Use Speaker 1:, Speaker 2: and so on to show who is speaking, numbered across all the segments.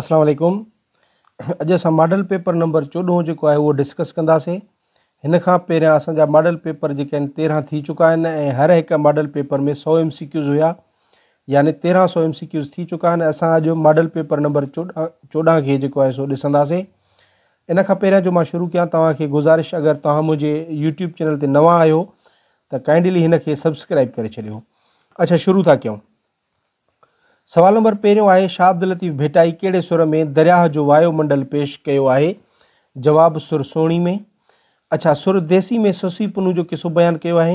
Speaker 1: اسلام عليڪم اڄ اسان ماڊل پيپر نمبر چوڏهون جيڪو آهي اهو ڊسڪس ڪنداسين هن کان پهريان اسان جا ماڊل پيپر جيڪي آهن تيرهن ٿي چڪا آهن ۽ هر هڪ ماڊل پيپر ۾ سو ايم سي ڪيوز هيا يعني تيرهن سو ايم سي ڪيوز ٿي چڪا آهن اسان اڄ ماڊل پيپر نمبر چوڏهن چوڏهن کي جيڪو آهي سو ڏسنداسين ان کان پهريان جو ماں شروع ڪيان توهانکي گزارش اگر توهان منهنجي يوٽيوب چينل تي نوان آهيو ته ڪائنڊلي هن کي سبسڪرائب ڪري ڇڏيو اچھا شروع ٿا ڪيون سوال نمبر پهريون آهي شاهه عبداللطيف ڀٽائي ڪهڙي سر ۾ درياهه جو وايو منڊل پيش ڪيو آهي؟ جواب سر سهڻي ۾ اڇا سر ديسي ۾ سسي پنو جو قصو بيان ڪيو آهي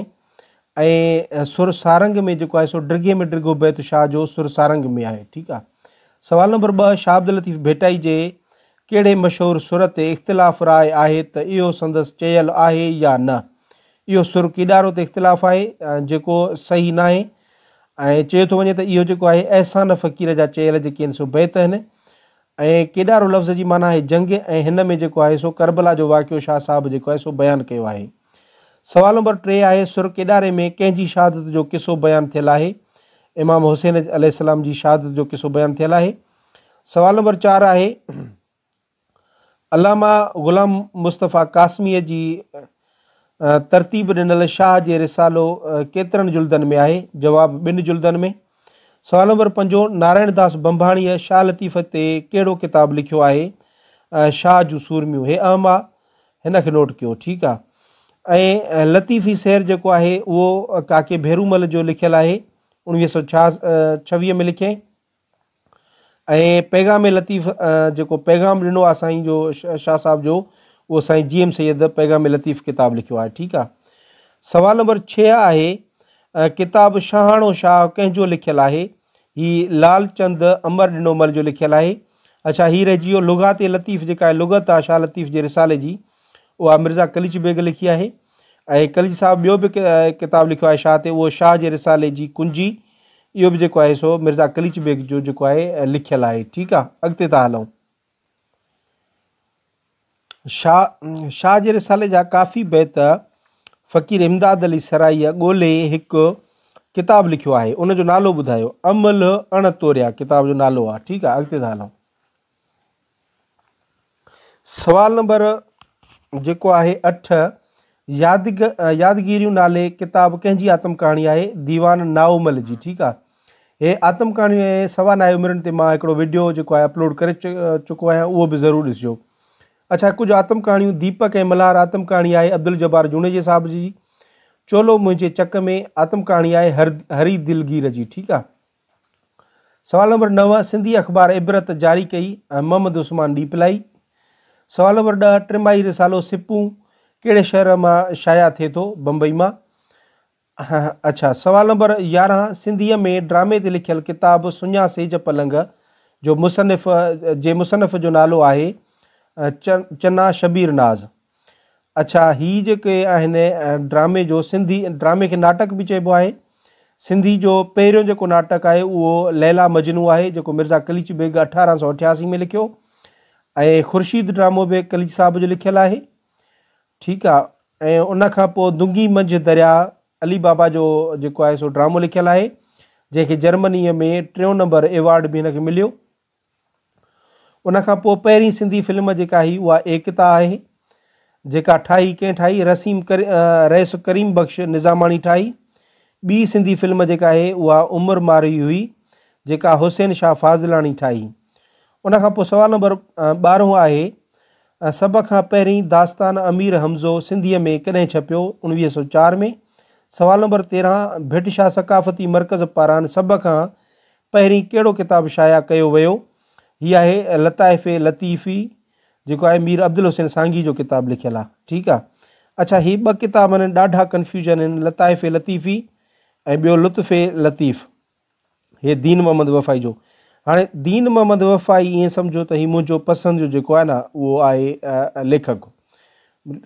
Speaker 1: ۽ سر سارنگ ۾ جيڪو آهي سو ڊگهي ۾ ڊگهو بيت شاهه جو سر سارنگ ۾ آهي ٺيڪ آهي سوال نمبر ٻه شاهه عبداللطيف ڀٽائي جي ڪهڙي مشهور سر تي اختلاف راء آهي ته اهو سندس چيل آهي يا نه اهو سر ڪيڏارو تي اختلاف آهي جيڪو صحيح ناهي ۽ چيو ٿو وڃي ته اهو جيڪو آهي احسان فقير جا چيل جيڪي آهن سو بيت آهن ۽ ڪيڏارو لفظ جي معنيٰ آهي جنگ ۽ هن ۾ جيڪو آهي سو ڪربلا جو واقعو شاهه صاحب جيڪو آهي سو بيان ڪيو آهي. سوال نمبر ٽي آهي سر ڪيڏاري ۾ ڪنهن جي شهادت جو قصو بيان ٿيل آهي؟ امام حسين عليه السلام جي شهادت جو قصو بيان ٿيل آهي. سوال نمبر چار آهي علامه غلام مصطفيٰ قاسميء جي ترتيب ڏنل شاهه جي رسالو ڪيترن جلدن ۾ آهي؟ جواب، ٻن جلدن ۾. سوال نمبر پنجون، نارائڻ داس بنڀاڻيء شاهه لطيف تي ڪهڙو ڪتاب لکيو آهي؟ شاهه جون سورميون. هي اهم آ، هن کي نوٽ ڪيو. ٺيڪ آ. ۽ لطيفي سير جيڪو آهي، اهو ڪاڪي ڀيرومل جو لکيل آهي، اوڻويهه سؤ ڇهه ۾ لکيائين. ۽ پيغام لطيف جيڪو پيغام ڏنو آهي سائين جو شاهه صاحب جو اهو سائين جي ايم سيد پيغام لطيف ڪتاب لکيو آهي ٺيڪ آهي سوال نمبر ڇهه آهي ڪتاب شاهاڻو شاهه ڪنهن جو لکيل آهي هي لال چند امر ڏنو مل جو لکيل آهي اڇا هي رهجي ويو لغات لطيف جيڪا لغت آهي شاهه لطيف جي رسالي جي اها مرزا قليچ بيگ لکي آهي ۽ قليچ صاحب ٻيو به ڪتاب لکيو آهي شاهه تي اهو شاهه جي رسالي جي ڪنجي اهو به جيڪو آهي سو مرزا قليچ بيگ جو جيڪو آهي لکيل آهي ٺيڪ آهي اڳتي ٿا هلون شاهه شاهه جي رسالي جا ڪافي بيت فقير امداد علي سرائيء ڳولي هڪ ڪتاب لکيو آهي ان جو نالو ٻڌايو عمل اڻ توريا ڪتاب جو نالو آهي ٺيڪ آهي اڳتي ٿا هلون سوال نمبر جيڪو آهي اٺ يادگ يادگيريون نالي ڪتاب ڪنهن جي آتم ڪهاڻي آهي ديوان ناومل جي ٺيڪ آهي هي آتم ڪهاڻي سوا نائي عمرن تي مان هڪڙو ويڊيو جيڪو آهي اپلوڊ ڪري چڪو آهيان اهو به ضرور ڏسجو اچھا ڪجھه آتم ڪهاڻيون ديپڪ ۽ ملهار آتم ڪهاڻي آهي عبد الجبار جوڻيجي صاحب جي چولو منهنجي چڪ ۾ آتم ڪهاڻي آهي هري دلگير جي ٺيڪ آهي سوال نمبر نو سنڌي اخبار عبرت جاري ڪئي ۽ محمد عثمان ڏيپلائي. سوال نمبر ڏهه ٽماهي رسالو سپون ڪهڙي شهر مان شايع ٿئي ٿو؟ بمبئي مان. اڇا سوال نمبر يارهن سنڌيء ۾ ڊرامي تي لکيل ڪتاب سڃا سيج پلنگ جو مصنف جي مصنف جو نالو آهي چنا شبير ناز. اڇا هي جيڪي آهن ڊرامي جو سنڌي ڊرامي کي ناٽڪ به چئبو آهي سنڌي جو پهريون جيڪو ناٽڪ آهي اهو ليلا مجنو آهي جيڪو مرزا قليچ بيگ اٺارهن سؤ اٺياسي ۾ لکيو ۽ خورشيد ڊرامو به قليچ صاحب جو لکيل آهي ٺيڪ آهي ۽ ان کان پوء دنگي منجهه دريا علي بابا جو جيڪو آهي سو ڊرامو لکيل آهي جنهن کي جرمنيء ۾ ٽيون نمبر ايوارڊ به هن کي مليو ان کان پوء پهرين سنڌي فلم جيڪا هئي اها ايڪتا آهي جيڪا ٺاهي ڪنهن ٺاهي رسيم ڪر رئيس ڪريم بخش نظاماڻي ٺاهي ٻي سنڌي فلم جيڪا آهي اها عمر مارئي هئي جيڪا حسين شاهه فاضلاڻي ٺاهي ان کان پوء سوال نمبر ٻارهون آهي سڀ کان پهرين داستان امير حمزو سنڌيء ۾ ڪڏهن ڇپيو اڻويهه سو چار ۾ سوال نمبر تيرهن ڀٽ شاهه ثقافتي مرڪز پاران سڀ کان پهرين ڪهڙو ڪتاب شايع ڪيو ويو؟ هي آهي لطائف لطيفي جيڪو آهي مير عبدالحسين سانگي جو ڪتاب لکيل آهي ٺيڪ آهي اڇا هي ٻه ڪتاب هن ڏاڍا ڪنفيوجن هن لطائف لطيفي ۽ ٻيو لطف لطيف هي دين محمد وفائي جو هاڻي دين محمد وفائي ائين سمجھو ته هي منهنجو پسند جو جيڪو آهي نه اهو آهي ليکڪ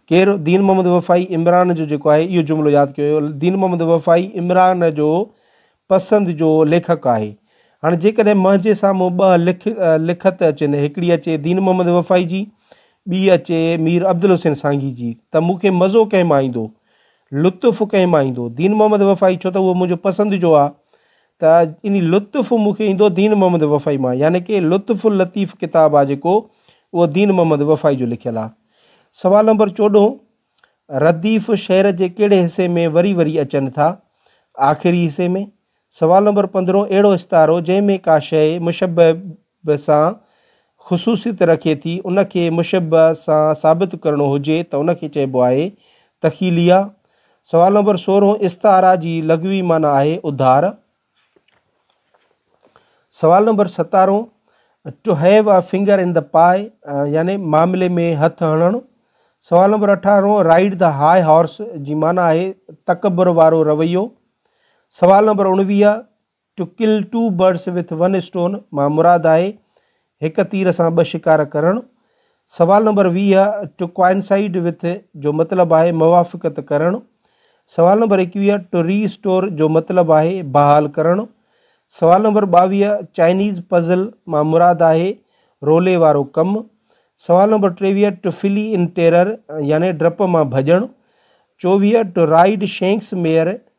Speaker 1: ڪير دين محمد وفائي عمران جو جيڪو آهي اهو جملو ياد ڪيو ويو دين محمد وفائي عمران جو پسند جو ليکڪ آهي هاڻي جيڪڏهن منهنجي سامهون ٻه لک لکت اچن هڪڙي اچي دين محمد وفائي جي ٻي اچي مير عبدالحسين سانگي جي ته مون کي مزو ڪنهن مان ايندو لطف ڪنهن مان ايندو دين محمد وفائي ڇو ته اهو منهنجو پسند جو آهي ته ان لطف مون کي ايندو دين محمد وفائي مان يعني ڪي لطف اللطيف ڪتاب آ جيڪو اهو دين محمد وفائي جو لکيل آ. سوال نمبر چوڏهون رديف شعر جي ڪهڙي حصي ۾ وري وري اچن ٿا؟ آخري حصي ۾. سوال نمبر پندرهون اهڙو استعارو جنهن ۾ ڪا شيء مشبه به سان خصوصيت رکي ٿي، ان کي مشبه سان ثابت ڪرڻو هجي ته ان کي چئبو آهي تخيليه. سوال نمبر سورهون استعاره جي لغوي معنيٰ آهي اڌار. سوال نمبر ستارهون To have a finger in the pie يعني معاملي ۾ هٿ هڻڻ. سوال نمبر اٺارهون Ride the high horse جي معنيٰ آهي تڪبر وارو رويو. سوال نمبر اڻويهه two kill two birds with one stone مان مراد آهي هڪ تير سان ٻه شڪار ڪرڻ. سوال نمبر ويهه ٽو ڪوائنسائيڊ وٿ جو مطلب آهي موافقت ڪرڻ. سوال نمبر ايڪويهه ٽو ري اسٽور جو مطلب آهي بحال ڪرڻ. سوال نمبر ٻاويهه چائنيز پزل مان مراد آهي رولي وارو ڪم. سوال نمبر ٽيويهه ٽو فلي ان ٽيرر يعني ڊپ مان ڀڄڻ. چوويهه ٽو رائيڊ شينڪس ميئر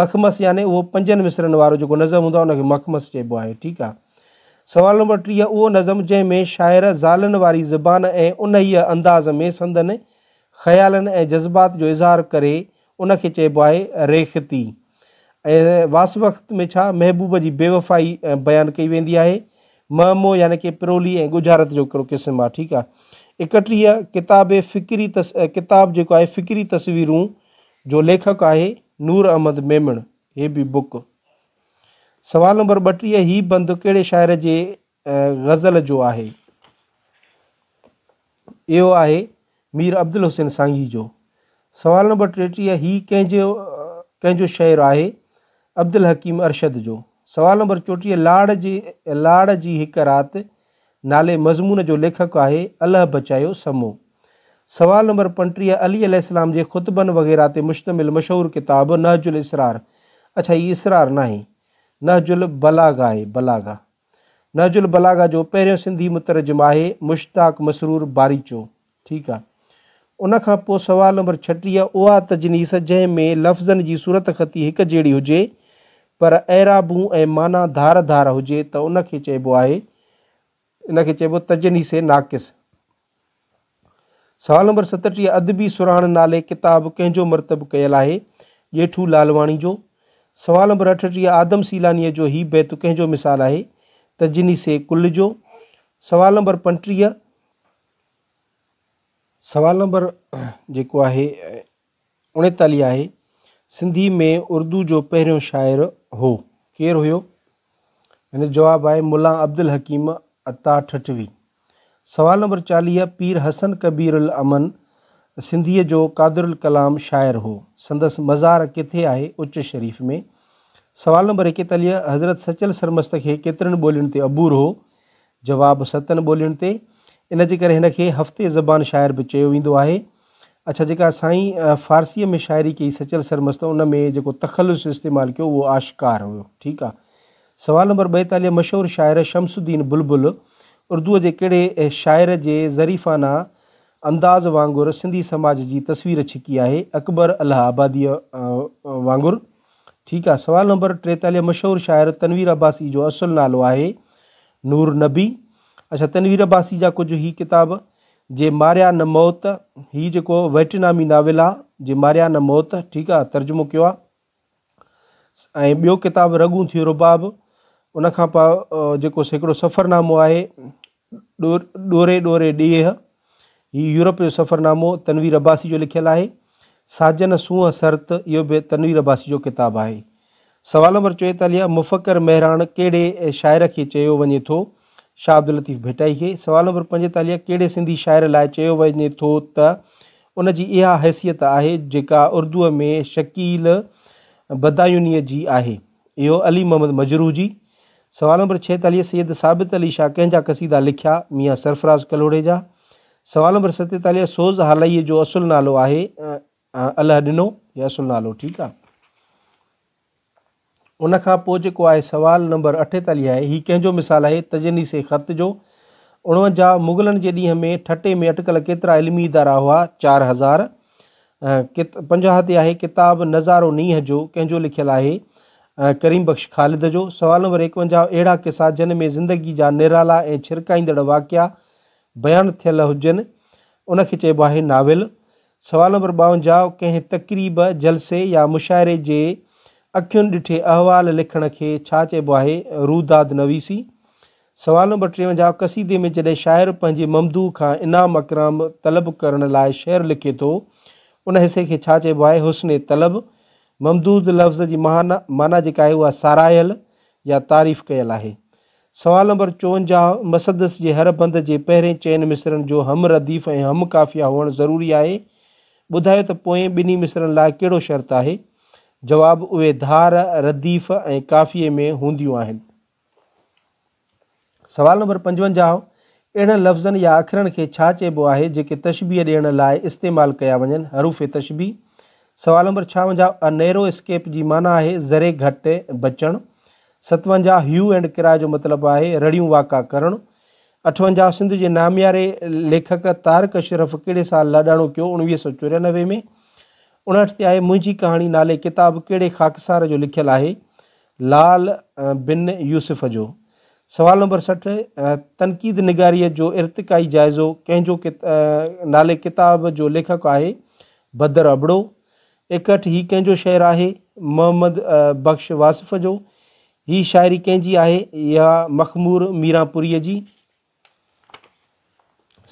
Speaker 1: مخمس يعني اهو پنجن مصرعن وارو جيڪو نظم هوندو آهي ان کي مخمس چئبو آهي ٺيڪ آهي سوال نمبر ٽيهه اهو نظم جنهن ۾ شاعر زالن واري زبان ۽ انهيء انداز ۾ سندن خيالن ۽ جذبات جو اظهار ڪري ان کي چئبو آهي ريختي ۽ واسوخت ۾ ڇا محبوب جي بيوفائي بيان ڪئي ويندي آهي مهمو يعني ڪي پرولي ۽ ڳجهارت جو هڪڙو قسم آهي ٺيڪ آهي اڪٽيهه ڪتاب فڪري تس... ڪتاب جيڪو آهي فڪري تصويرون جو ليکڪ آهي نور احمد ميمڻ هي به بوڪ. سوال نمبر ٻٽيهه هي بند ڪهڙي شاعر جي غزل جو آهي؟ اهو آهي مير عبدالحسين سانگي جو. سوال نمبر ٽيٽيهه هي ڪنهن جو ڪنهن جو شعر آهي؟ عبدالحڪيم ارشد جو. سوال نمبر چوٽيهه لاڙ جي لاڙ جي هڪ رات نالي مضمون جو ليکڪ آهي الله بچايو سمو. سوال نمبر پنٽيهه علي عليه السلام جي خطبن وغيره تي مشتمل مشهور ڪتاب نهج الاسرار اڇا هي اسرار ناهي نهج البلاغه آهي بلاغه نهج البلاغه جو پهريون سنڌي مترجم آهي مشتاق مسرور باريچو ٺيڪ آهي. ان کان پوء سوال نمبر ڇٽيهه اها تجنيس جنهن ۾ لفظن جي صورتخطي هڪ جهڙي هجي پر اعرابون ۽ معنيٰ ڌار ڌار هجي ته ان کي چئبو آهي ان کي چئبو تجنيس ناقص. سوال نمبر ستٽيهه ادبي سرهاڻ نالي ڪتاب ڪنهن جو مرتب ڪيل آهي؟ ڄيٺو لالواڻي جو. سوال نمبر اٺٽيهه آدم سيلانيء جو هي بيت ڪنهن جو مثال آهي؟ تجنيس ڪل جو. سوال نمبر پنٽيهه. سوال نمبر جيڪو آهي اڻيتاليهه آهي سنڌي ۾ اردو جو پهريون شاعر هو ڪير هيو ان جو جواب آهي ملا عبدالحڪيم عطا ٺٽوي سوال نمبر چاليهه پير حسن ڪبير الامن سنڌيء جو قادر الڪلام شاعر هو سندس مزار ڪٿي آهي اچ شريف ۾ سوال نمبر ايڪيتاليهه حضرت سچل سرمست کي ڪيترين ٻولين تي عبور هو جواب، ستن ٻولين تي ان جي ڪري هن کي هفتي زبان شاعر به چيو ويندو آهي. اڇا جيڪا سائين فارسيء ۾ شاعري ڪئي سچل سرمست ان ۾ جيڪو تخلص استعمال ڪيو اهو آشڪار هيو ٺيڪ آ. سوال نمبر ٻيتاليهه مشهور شاعر شمس الدين بلبل اردوء جي ڪهڙي شاعر جي ظريفانه انداز وانگر سنڌي سماج جي تصوير ڇڪي آهي اڪبر الله آباديء وانگر. ٺيڪ آ سوال نمبر ٽيتاليهه مشهور شاعر تنوير عباسي جو اصل نالو آهي نور نبي اڇا تنوير عباسي جا ڪجهه هي ڪتاب جي ماريا نه موت هي جيڪو ويٽنامي ناول آ جي ماريا نه موت ٺيڪ آ ترجمو ڪيو آ ۽ ٻيو ڪتاب رڳون ٿيو رباب ان کان پا جيڪو سيڪڙو سفرنامو آهي ڏوري ڏوري ڏيهه، هي يورپ جو سفرنامو تنوير عباسي جو لکيل آهي. ساجن سونهن سرت، اهو به تنوير عباسي جو ڪتاب آهي. سوال نمبر چوئيتاليهه، مفڪر مهراڻ ڪهڙي شاعر کي چيو وڃي ٿو؟ شاهه عبداللطيف ڀٽائي کي. سوال نمبر پنجيتاليهه، ڪهڙي سنڌي شاعر لاء چيو وڃي ٿو ته ان جي اها حيثيت آهي جيڪا اردوء ۾ شڪيل بدايونيء جي آهي؟ اهو علي محمد مجروح جي سوال نمبر ڇيتاليهه سيد ثابت علي شاهه ڪنهن جا قصيدا لکيا؟ ميان سرفراز ڪلهوڙي جا. سوال نمبر ستيتاليهه سوز هالئيء جو اصل نالو آهي اله ڏنو يا اصل نالو ٺيڪ آ. ان کان پوء جيڪو آهي سوال نمبر اٺيتاليهه آهي هي ڪنهن جو مثال آهي؟ تجنيس خط جو. اڻونجاهه مغلن جي ڏينهن ۾ ٺٽي ۾ اٽڪل ڪيترا علمي ادارا هئا؟ چار هزار. پنجاهه تي آهي ڪتاب نظارو نينهن جو، ڪنهن جو لکيل آهي؟ ڪريم بخش خالد جو. سوال نمبر ايڪونجاهه اهڙا قصا جن ۾ زندگي جا نرالا ۽ ڇرڪائيندڙ واقعا بيان ٿيل هجن ان کي چئبو آهي ناول. سوال نمبر ٻاونجاهه ڪنهن تقريب، جلسي يا مشاعري جي اکين ڏٺي احوال لکڻ کي ڇا چئبو آهي؟ روداد نويسي. سوال نمبر ٽيونجاهه قصيدي ۾ جڏهن شاعر پنهنجي ممدوح کان انعام اڪرام طلب ڪرڻ لاء شعر لکي ٿو، ان حصي کي ڇا چئبو آهي؟ حسن طلب، ممدود لفظ جي مهانا معنيٰ جيڪا آهي اها ساراهيل يا تعريف ڪيل آهي. سوال نمبر چونجاهه مسدس جي هر بند جي پهرين چئن مصرعن جو هم رديف ۽ هم قافيه هئڻ ضروري آهي. ٻڌايو ته پوئين ٻنهي مصرعن لاء ڪهڙو شرط آهي؟ جواب، اهي ڌار، رديف ۽ قافيي ۾ هونديون آهن. سوال نمبر پنجونجاهه، اهڙن لفظن يا اکرن کي ڇا چئبو آهي جيڪي تشبيهه ڏيڻ لاء استعمال ڪيا وڃن، حروف تشبيهه؟ سوال نمبر ڇاونجاهه، A narrow escape جي معنيٰ آهي ذري گهٽ بچڻ. ستونجاهه، Hue and cry جو مطلب آهي رڙيون واڪا ڪرڻ. اٺونجاهه، سنڌ جي نامياري ليکڪ طارق اشرف ڪهڙي سال لاڏاڻو ڪيو؟ اڻويهه سؤ چوريانوي ۾. اڻهٺ تي آهي منهنجي ڪهاڻي نالي ڪتاب ڪهڙي خاڪسار جو لکيل آهي؟ لعل بن يوسف جو. سوال نمبر سٺ، تنقيد نگاريء جو ارتقائي جائزو ڪنهن جو نالي ڪتاب جو ليکڪ آهي؟ بدر ابڙو. ايڪهٺ، هي ڪنهن جو شعر آهي؟ محمد بخش واصف جو. هي شاعري ڪنهن جي آهي؟ اها مخمور ميرانپوريء جي.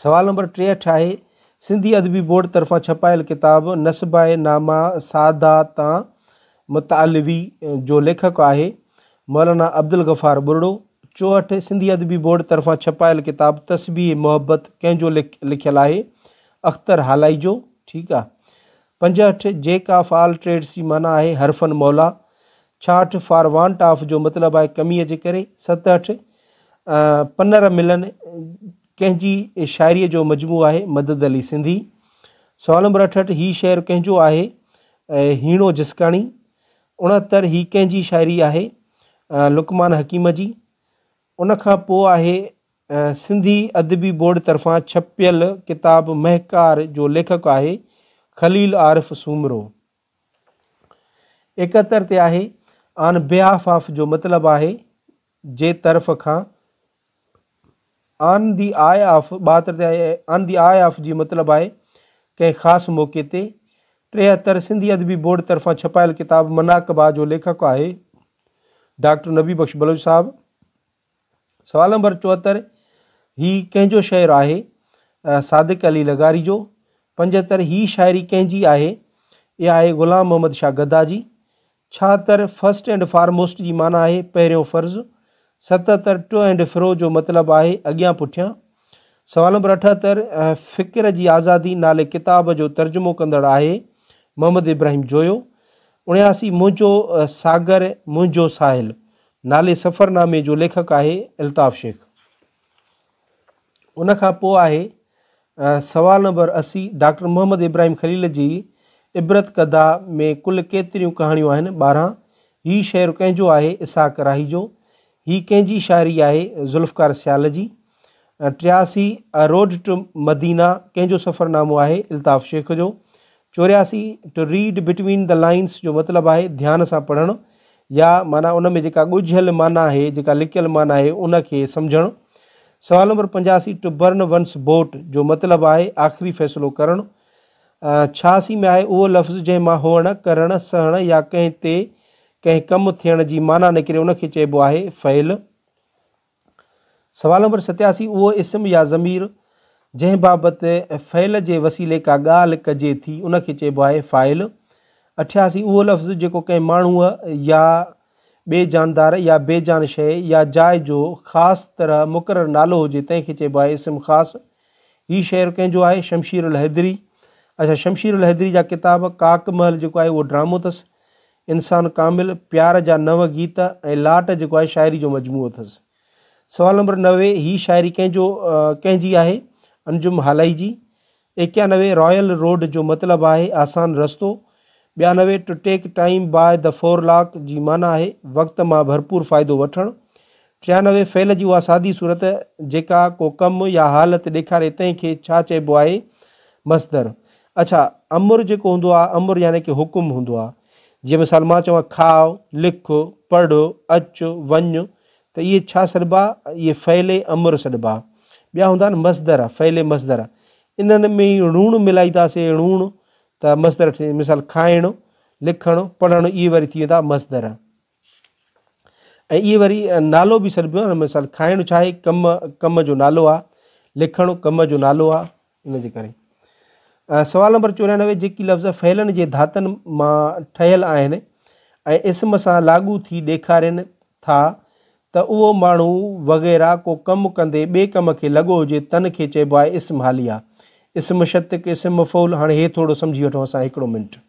Speaker 1: سوال نمبر ٽيهٺ آهي، سنڌي ادبي بورڊ طرفان ڇپايل ڪتاب نسباء نامه ساده تان متعلوي جو ليکڪ آهي مولانا عبدالغفار ٻرڙو. چوهٺ، سنڌي ادبي بورڊ طرفان ڇپايل ڪتاب تسبيح محبت ڪنهن جو لکيل آهي؟ اختر هالائي جو. ٺيڪ آ. پنجهٺ، جي ڪا فعال ٽريڊ سي معنيٰ آهي حرفن مولا. ڇاهٺ، فار وانٽ آف جو مطلب آهي ڪميء جي ڪري. ستهٺ، پنر ملن ڪنهن جي شاعريء جو مجموعو آهي؟ مدد علي سنڌي. سوال نمبر اٺهٺ، هي شعر ڪنهن جو آهي؟ هيڻو جسڪاڻي. اڻهتر، هي ڪنهن جي شاعري آهي؟ لقمان حڪيم جي. ان کان پوء آهي سنڌي ادبي بورڊ طرفان ڇپيل ڪتاب مهڪار جو ليکڪ آهي خليل عارف سومرو. اڪهتر تي آهي آن بهاف آف جو مطلب آهي جي طرف کان آن دي آء آف ٻاهتر تي آهي آن دي آء آف جي مطلب آهي ڪنهن خاص موقعي تي ٽيهتر سنڌي ادبي بورڊ طرفان ڇپايل ڪتاب مناقبه جو ليکڪ آهي ڊاڪٽر نبي بخش بلوچ صاحب سوال نمبر چوهتر هي ڪنهن جو شعر آهي؟ صادق علي لغاري جو. پنجهتر هي شاعري ڪنهن جي آهي؟ اها آهي غلام محمد شاهه گدا جي. ڇاهتر فرسٽ اينڊ فارموسٽ جي معنيٰ آهي پهريون فرض. ستهتر ٽو اينڊ فرو جو مطلب آهي اڳيان پٺيان. سوال نمبر اٺهتر فڪر جي آزادي نالي ڪتاب جو ترجمو ڪندڙ آهي محمد ابراهيم جويو. اڻياسي منهنجو ساگر منهنجو ساحل نالي سفرنامي جو ليکڪ آهي الطاف شيخ. ان کان پوء آهي سوال نمبر اسي، ڊاڪٽر محمد ابراهيم خليل جي عبرت ڪده ۾ ڪل ڪيتريون ڪهاڻيون آهن؟ ٻارهن، هي شعر ڪنهن جو آهي؟ اسحاق راهي جو. هي ڪنهن جي شاعري آهي؟ ذوالفقار سيال جي. ٽياسي، A Road to Medina، ڪنهن جو سفرنامو آهي؟ الطاف شيخ جو. چورياسي، To Read Between the Lines، جو مطلب آهي ڌيان سان پڙهڻ يا معنيٰ ان ۾ جيڪا ڳجهيل معنيٰ آهي، جيڪا لڪيل معنيٰ آهي، ان کي سمجهڻ. سوال نمبر پنجاسي، To Burn One's Boat، جو مطلب آهي آخري فيصلو ڪرڻ. ڇهاسي ۾ آهي اهو لفظ جنهن مان هئڻ، ڪرڻ، سهڻ يا ڪنهن تي ڪنهن ڪم ٿيڻ جي معنيٰ نڪري ان کي چئبو آهي فعل. سوال نمبر ستياسي، اهو اسم يا ضمير جنهن بابت فعل جي وسيلي ڪا ڳالهه ڪجي ٿي ان کي چئبو آهي فاعل. اٺياسي، اهو لفظ جيڪو ڪنهن ماڻهوء يا ٻئي جاندار يا بي جان شيء يا جاء جو خاص طرح مقرر نالو هجي تنهن کي چئبو آهي اسم خاص. هي شعر ڪنهن جو آهي؟ شمشير الحيدري. اچا شمشير الحيدري جا ڪتاب ڪاڪ محل جيڪو آهي اهو ڊرامو اٿس. انسان ڪامل، پيار جا نو گيت ۽ لاٽ جيڪو آهي شاعري جو مجموعو اٿس. سوال نمبر نوي، هي شاعري ڪنهن جو ڪنهن جي آهي؟ انجم هالائي جي. ايڪيانوي، رايل روڊ جو مطلب آهي آسان رستو. ٻيانوي، to take time by the forelock جي معنيٰ آهي وقت مان ڀرپور فائدو وٺڻ. ڇيانوي فعل جي اها سادي صورت جيڪا ڪو ڪم يا حالت ڏيکاري تنهن کي ڇا چئبو آهي؟ مصدر. اڇا امر جيڪو هوندو آهي امر يعني ڪه حڪم هوندو آهي جيئن مثال مان چوان کاء، لک، پڙهه، اچ، وڃ ته اهي ڇا سڏبا اهي فعل امر سڏبا. ٻيا هوندا آهن مصدر فعل مصدر انهن ۾ ئي ڻوڻ ملائيداسي ڻوڻ ته مصدر ٺهي مثال کائڻ، لکڻ، پڙهڻ اهي وري ٿي ويندا مصدر. ۽ اهي وري نالو به سڏبو آهي مثال کائڻ ڇا آهي ڪم ڪم جو نالو آهي لکڻ ڪم جو نالو آهي ان جي ڪري سوال نمبر چورانوي جيڪي لفظ فعلن جي ڌاتن مان ٺهيل آهن ۽ اسم سان لاڳو ٿي ڏيکارين ٿا ته اهو ماڻهو وغيره ڪو ڪم ڪندي ٻئي ڪم کي لڳو هجي تن کي چئبو آهي اسم حاليه اسم شتڪ اسم مفعول هاڻي هي ٿورو سمجهي وٺو اسان هڪڙو منٽ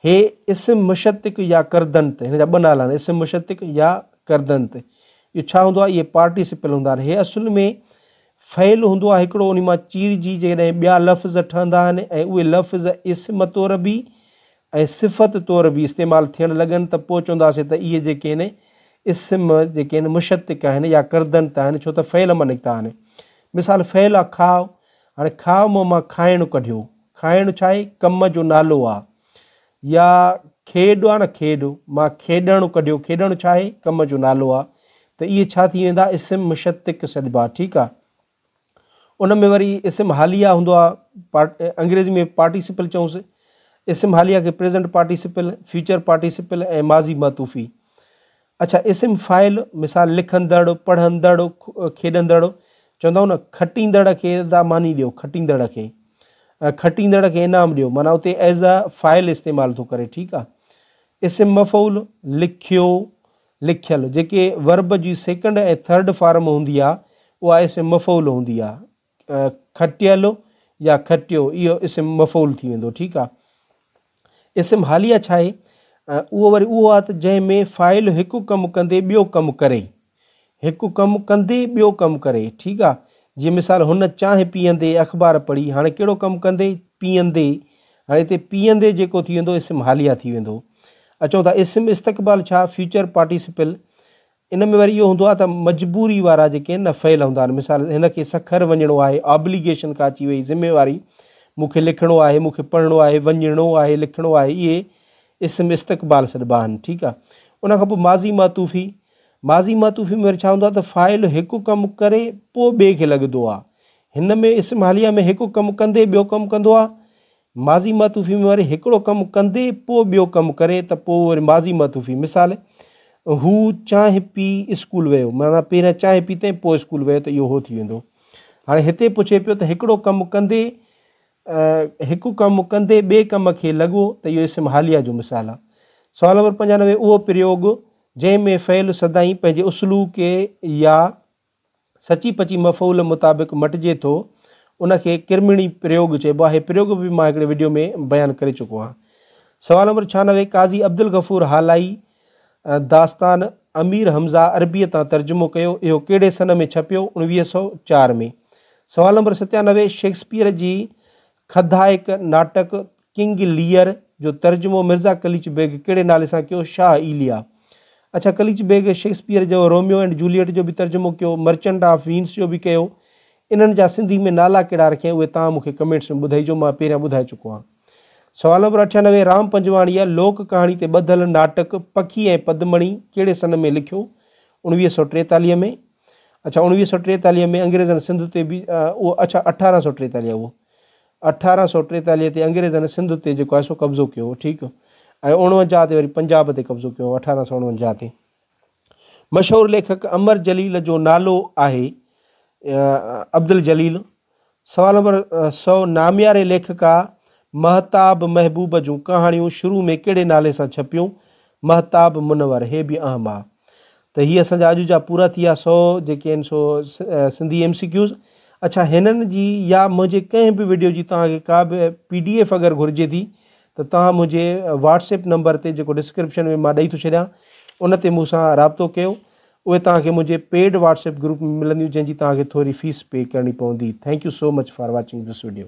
Speaker 1: هي اسم مشتق يا ڪردنت هن جا ٻه نالا آهن اسم مشتق يا ڪردنت اهو ڇا هوندو آهي اهي پارٽيسپل هوندا آهن هي اصل ۾ فعل هوندو آهي هڪڙو ان مان چيرجي جيڪڏهن ٻيا لفظ ٺهندا آهن ۽ اهي لفظ اسم طور به ۽ صفت طور به استعمال ٿيڻ لڳن ته پوء چونداسي ته اهي جيڪي آهن اسم جيڪي آهن مشتق آهن يا ڪردنت آهن ڇو ته فعل مان نڪتا آهن مثال فعل کاء هاڻي کاء مون مان کائڻ ڪڍيو. کائڻ ڇا آهي؟ ڪم جو نالو آ. يا کيڏ آ نه کيڏ، مان کيڏڻ ڪڍيو. کيڏڻ ڇا آهي؟ ڪم جو نالو آ. ته اهي ڇا ٿي ويندا؟ اسم مشتق سڏبا. ٺيڪ آ. ان ۾ وري اسم حاليه هوندو آ. انگريزي ۾ پارٽيسپل چئونس. اسم حاليه کي پريزنٽ پارٽيسپل، فيوچر پارٽيسپل ۽ ماضي معطوفي. اڇا اسم فاعل مثال لکندڙ، پڙهندڙ، کيڏندڙ چوندا آهيون نه کٽيندڙ کي ادا ماني ڏيو کٽيندڙ کي کٽيندڙ کي انعام ڏيو معنيٰ اتي ايز اي فاعل استعمال ٿو ڪري ٺيڪ آهي اسم مفعول لکيو لکيل جيڪي ورب جي سيڪنڊ ۽ ٿرڊ فارم هوندي آهي اها اسم مفعول هوندي آهي کٽيل يا کٽيو اهو اسم مفعول ٿي ويندو ٺيڪ آ اسم حاليه ڇا آهي اهو وري اهو آ ته جنهن ۾ فاعل هڪ ڪم ڪندي ٻيو ڪم ڪري هڪ ڪم ڪندي ٻيو ڪم ڪري ٺيڪ آ جي مثال هن چانهه پيئندي اخبار پڙهي هاڻي ڪهڙو ڪم ڪندي پيئندي هاڻي هتي پيئندي جيڪو ٿي ويندو اسم حاليه ٿي ويندو اچو ٿا اسم استقبال ڇا فيوچر پارٽيسپل ان ۾ وري اهو هوندو آهي ته مجبوري وارا جيڪي آهن نه فعل هوندا آهن مثال هن کي سکر وڃڻو آهي Obligation ڪا اچي وئي ذميواري مون کي لکڻو آهي مون کي پڙهڻو آهي وڃڻو آهي لکڻو آهي اهي اسم استقبال سڏبا آهن ٺيڪ آهي ان کان پوء ماضي معطوفي ماضي معطوفي ۾ وري ڇا هوندو آهي ته فاعل هڪ ڪم ڪري پوء ٻئي کي لڳندو آهي هن ۾ اسم حاليه ۾ هڪ ڪم ڪندي ٻيو ڪم ڪندو آهي ماضي معطوفي ۾ وري هڪڙو ڪم ڪندي پوء ٻيو ڪم ڪري ته پوء وري ماضي معطوفي مثال، هو چانهه پي اسڪول ويو معنيٰ پهريان چانهه پيتئين پوء اسڪول ويو ته اهو هو ٿي ويندو. هاڻي هتي پڇي پيو ته هڪڙو ڪم ڪندي هڪ ڪم ڪندي ٻئي ڪم کي لڳو ته اهو اسم حاليه جو مثال آهي. سوال نمبر پنجانوي اهو پريوڳ جنهن ۾ فعل سدائين پنهنجي اصلوڪي يا سچي پچي مفعول مطابق مٽجي ٿو ان کي ڪرمڻي پريوڳ چئبو آهي هي پريوڳ به مان هڪڙي وڊيو ۾ بيان ڪري چڪو آهيان سوال نمبر ڇهانوي قاضي عبدالغفور هالائي داستان امير حمزه عربيء تان ترجمو ڪيو اهو ڪهڙي سن ۾ ڇپيو اڻويهه سؤ چار ۾ سوال نمبر ستيانوي شيڪسپيئر جي کدائڪ ناٽڪ ڪنگ ليئر جو ترجمو مرزا قليچ بيگ ڪهڙي نالي سان ڪيو؟ شاهه ايليا. اڇا قليچ بيگ شيڪسپيئر جو روميو اينڊ جوليئٽ جو به ترجمو ڪيو، مرچنٽ آف وينس جو به ڪيو. انهن جا سنڌي ۾ نالا ڪهڙا رکيائين اهي توهان مون کي ڪمينٽس ۾ ٻڌائيجو مان پهريان ٻڌائي چڪو آهيان. سوال نمبر اٺيانوي رام پنجواڻيء لوڪ ڪهاڻي تي ٻڌل ناٽڪ پکي ۽ پدمڻي ڪهڙي سن ۾ لکيو؟ اوڻويهه سؤ ٽيتاليهه ۾ اڇا اوڻويهه سؤ ٽيتاليهه ۾ انگريزن سنڌ تي به اهو اڇا اٺارهن سؤ ٽيتاليهه اهو اٺارهن سؤ ٽيتاليهه تي انگريزن سنڌ تي جيڪو آهي سو قبضو ڪيو هو ٺيڪ ۽ اڻونجاهه تي وري پنجاب تي قبضو ڪيو هو اٺارهن سؤ اڻونجاهه تي مشهور ليکڪ امر جليل جو نالو آهي عبدالجليل سوال نمبر سؤ نامياري ليکڪا مهتاب محبوب جون ڪهاڻيون شروع ۾ ڪهڙي نالي سان ڇپيون مهتاب منور، هي به اهم آ ته هي اسان جا اڄ جا پورا ٿي ويا سؤ جيڪي آهن سو سنڌي ايم سي ڪيوز. اڇا هنن جي يا منهنجي ڪنهن به وڊيو جي توهان کي ڪا به پي ڊي ايف اگر گهرجي ٿي ته توهان منهنجي واٽس ايپ نمبر تي جيڪو ڊسڪرپشن ۾ مان ڏئي ٿو ڇڏيان ان تي مون سان رابطو ڪيو اهي توهان کي منهنجي پيڊ واٽس ايپ گروپ ۾ ملنديون جنهن جي توهان کي ٿوري فيس پي ڪرڻي پوندي thank you so much for watching this video.